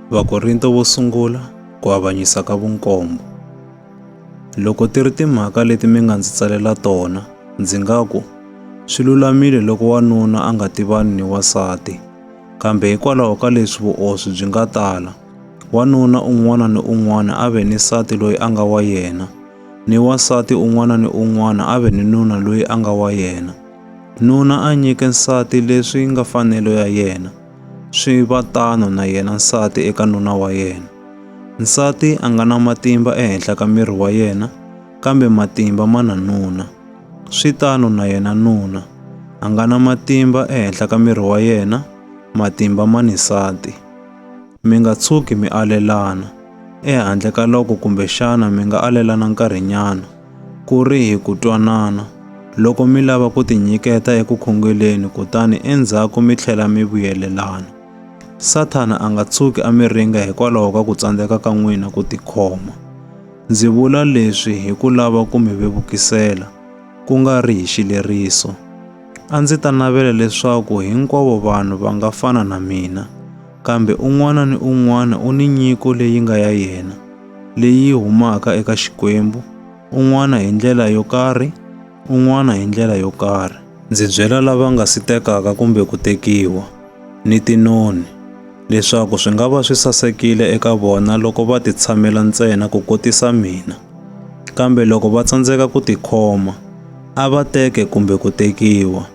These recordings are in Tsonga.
Vakorinto vo sungula ku avanyisa ka vunkombo. Loko ti ri timhaka leti mi nga ndzi tsalela tona, ndzi nga ku, swi lulamile loko wanuna a nga tivani ni wasati. Kambe hikwalaho ka leswi vuoswi byi nga tala, wanuna un'wana ni un'wana a ve ni nsati loyi a nga wa yena, ni wasati un'wana ni un'wana a ve ni nuna loyi a nga wa yena. Nuna a nyike nsati leswi nga fanelo ya yena, Swi va tano na yena nsati eka nuna wa yena. Nsati a nga na matimba ehenhla ka miri wa yena, kambe matimba ma na nuna. Swi tano na yena nuna a nga na matimba ehenhla ka miri wa yena, matimba ma ni nsati. Mi nga tshuki mi alelana, ehandle ka loko kumbexana mi nga alelana nkarhinyana. Ku ri hi ku twanana, loko mi lava ku tinyiketa eku khongeleni kutani endzhaku mi tlhela mi vuyelelana, Sathana a nga tshuki a mi ringa hikwalaho ka ku tsandzeka ka n'wina ku tikhoma. Ndzi vula leswi hi ku lava ku mi vevukisela, ku nga ri hi xileriso. A ndzi ta navela leswaku hinkwavo vanhu va nga fana na mina, kambe un'wana ni un'wana u ni nyiko leyi nga ya yena. leyi humaka eka Xikwembu, un'wana hi ndlela yo karhi, un'wana hi ndlela yo karhi. Ndzi byela lava nga si tekaka kumbe ku tekiwa, ni tinoni, leswaku swi nga va swi sasekile eka vona loko va titshamela ntsena ku kotisa mina. Kambe loko va tsandzeka ku tikhoma, a va teke kumbe ku tekiwa,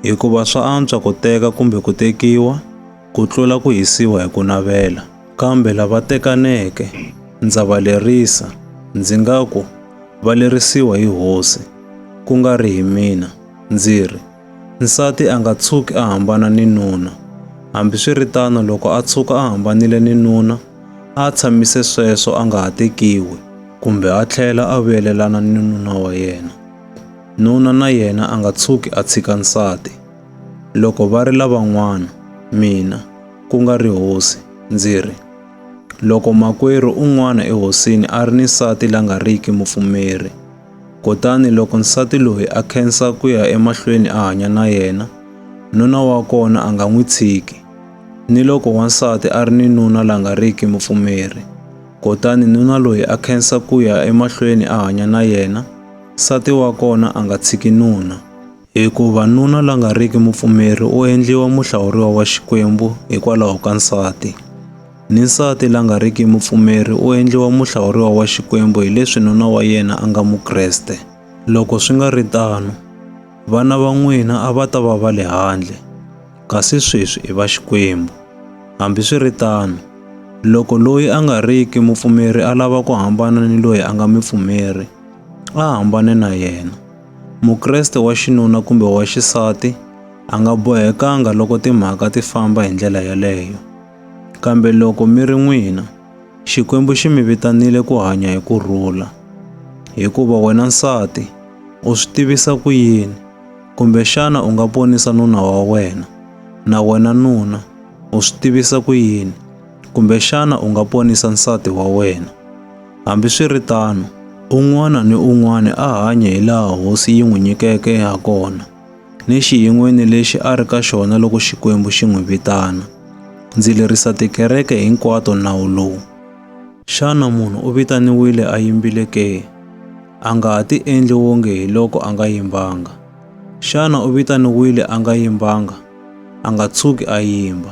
hikuva swa antswa ku teka kumbe ku tekiwa ku tlula ku hisiwa hi ku navela. Kambe lava tekaneke, ndza va lerisa, ndzi nga ku, Va lerisiwa hi Hosi, ku nga ri hi mina, ndzi ri, Nsati a nga tshuki a hambana ni nuna, hambiswiritano loko a tshuka a hambanile ni nuna, a tshamise sweswo a nga ha tekiwi, kumbe a tlhela a vuyelelana ni nuna wa yena. Nuna na yena a nga tshuki a tshika nsati. Loko va ri lavan'wana, mina, ku nga ri hosi, ndzi ri, Loko makwerhu un'wana ehosini a ri ni nsati la nga riki mupfumeri, kutani loko nsati loyi a khensa ku ya emahlweni a hanya na yena, nuna wa kona a nga n'wi tshiki, ni loko wansati a ri ni nuna la nga riki mupfumeri, kutani nuna loyi a khensa ku ya emahlweni a hanya na yena, nsati wa kona a nga tshiki nuna. Hikuva nuna la nga riki mupfumeri u endliwa muhlawuriwa wa Xikwembu hikwalaho ka nsati, ni nsati la nga riki mupfumeri u endliwa muhlawuriwa wa Xikwembu hi leswi nuna wa yena a nga Mukreste. Loko swi nga ri tano, vana va n'wina a va ta va va le handle, kasi sweswi i va Xikwembu. Hambi swi ri tano, loko loyi a nga riki mupfumeri a lava ku hambana ni loyi a nga mipfumeri, a hambane na yena. Mukreste wa xinuna kumbe wa xisati a nga bohekanga loko timhaka ti famba hi ndlela yeleyo. Kambe loko mi ri n'wina, Xikwembu xi mi vitanile ku hanya hi ku rhula. Hikuva wena nsati, u swi tivisa ku yini? Kumbexana u nga ponisa nuna wa wena. Na wena nuna, u swi tivisa ku yini? Kumbexana u nga ponisa nsati wa wena. Hambiswiritano, un'wana ni un'wana a hanye hi laha hosi yi n'wi nyikeke ha kona, ni xiyin'weni lexi a ri ka xona loko Xikwembu xi n'wi vitana. Ndzi lerisa tikereke hinkwato nawu lowu. Xana munhu u vitaniwile a yimbile ke? A nga ha tiendli wonge hi loko a nga yimbanga. Xana u vitaniwile a nga yimbanga? A nga tshuki a yimba.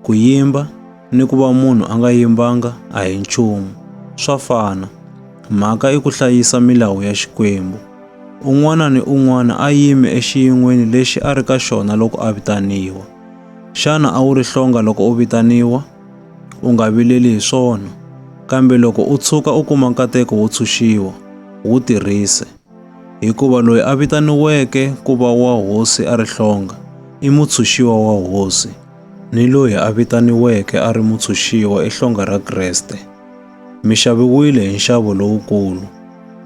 Ku yimba ni ku va munhu a nga yimbanga a hi nchumu, swa fana. Mhaka i ku hlayisa milawu ya Xikwembu. Un'wana ni un'wana a yime exiyin'weni lexi a ri ka xona loko a vitaniwa. Xana a wu ri hlonga loko u vitaniwa? U nga vileli hi swona, kambe loko u tshuka u kuma nkateko wo tshunxiwa, wu tirhise. hikuva loyi a vitaniweke ku va wa hosi a ri hlonga i mutshunxiwa wa hosi, ni loyi a vitaniweke a ri mutshunxiwa i hlonga ra Kreste. Mi xaviwile hi nxavo lowukulu,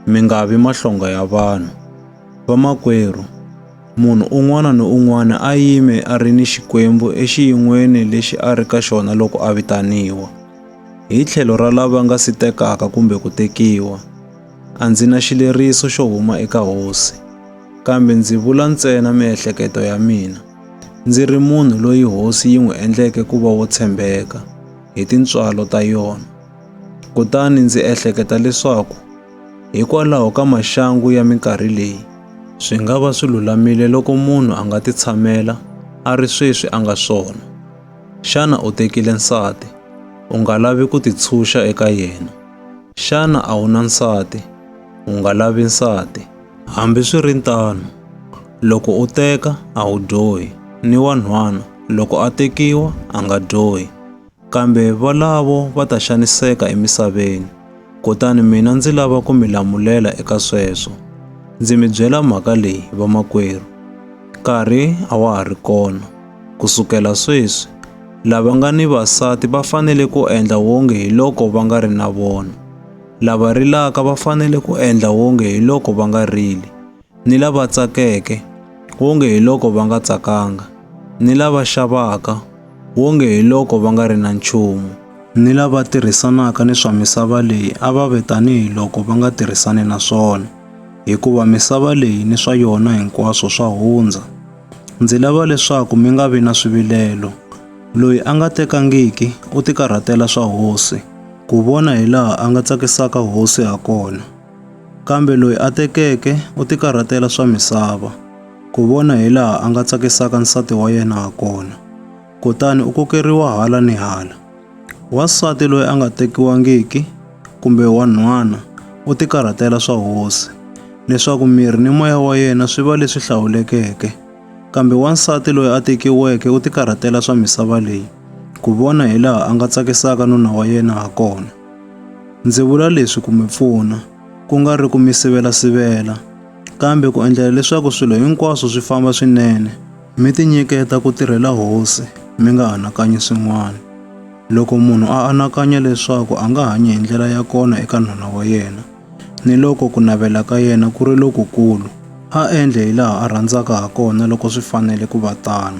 mi nga vi mahlonga ya vanhu. Vamakwerhu, munhu un'wana ni un'wana a yime a ri ni Xikwembu exiyin'weni lexi a ri ka xona loko a vitaniwa, hi tlhelo ra lava nga si tekaka kumbe ku tekiwa. A ndzi na xileriso xo huma eka hosi, kambe ndzi vula ntsena miehleketo ya mina, ndzi ri munhu loyi hosi yi n'wi endleke ku va wo tshembeka hi tintswalo ta yona. Kutani ndzi ehleketa leswaku hikwalaho ka maxangu ya minkarhi leyi, swi nga va swi lulamile loko munhu a nga titshamela a ri sweswi a nga swona. Xana u tekile nsati? U nga lavi ku titshunxa eka yena. Xana a wu na nsati? U nga lavi nsati. Hambi swi ri tano, loko u teka a wu dyohi, ni wanhwana loko a tekiwa a nga dyohi. Kambe valavo va ta xaniseka emisaveni. Kutani mina ndzi lava ku mi lamulela eka sweswo. Ndzi mi byela mhaka leyi, vamakwerhu. Nkarhi a wa ha ri kona. Ku sukela sweswi, lava nga ni vasati va fanele ku endla wonge hi loko va nga ri na vona, lava rilaka va fanele ku endla wonge hi loko va nga rili, ni lava tsakeke, wonge hi loko va nga tsakanga, ni lava xavaka, wonge hi loko va nga ri na nchumu, ni lava tirhisanaka ni swa misava leyi a va ve tanihi loko va nga tirhisani na swona, hikuva misava leyi ni swa yona hinkwaswo swa hundza. Ndzi lava leswaku mi nga vi na swivilelo. Loyi a nga tekangiki u tikarhatela swa hosi, ku vona hi laha a nga tsakisaka hosi ha kona. Kambe loyi a tekeke u tikarhatela swa misava, ku vona hi laha a nga tsakisaka nsati wa yena ha kona. Kutani u kokeriwa hala ni hala. Wansati loyi a nga tekiwangiki kumbe wa nhwana u tikarhatela swa hosi, leswaku miri ni moya wa yena swi va leswi hlawulekeke. Kambe wansati loyi a tekiweke u tikarhatela swa misava leyi, ku vona hi laha a nga tsakisaka nuna wa yena ha kona. Ndzi vula leswi ku mi pfuna, ku nga ri ku mi sivela-sivela, kambe ku endlela leswaku swilo hinkwaswo swi famba swinene. Mi tinyiketa ku tirhela Hosi, mi nga anakanyi swin'wana. Loko munhu a anakanya leswaku a nga hanyi hi ndlela ya kona eka nhwana wa yena, ni loko ku navela ka yena ku ri lokukulu, a endle hi laha a rhandzaka ha kona loko swi fanele ku va tano.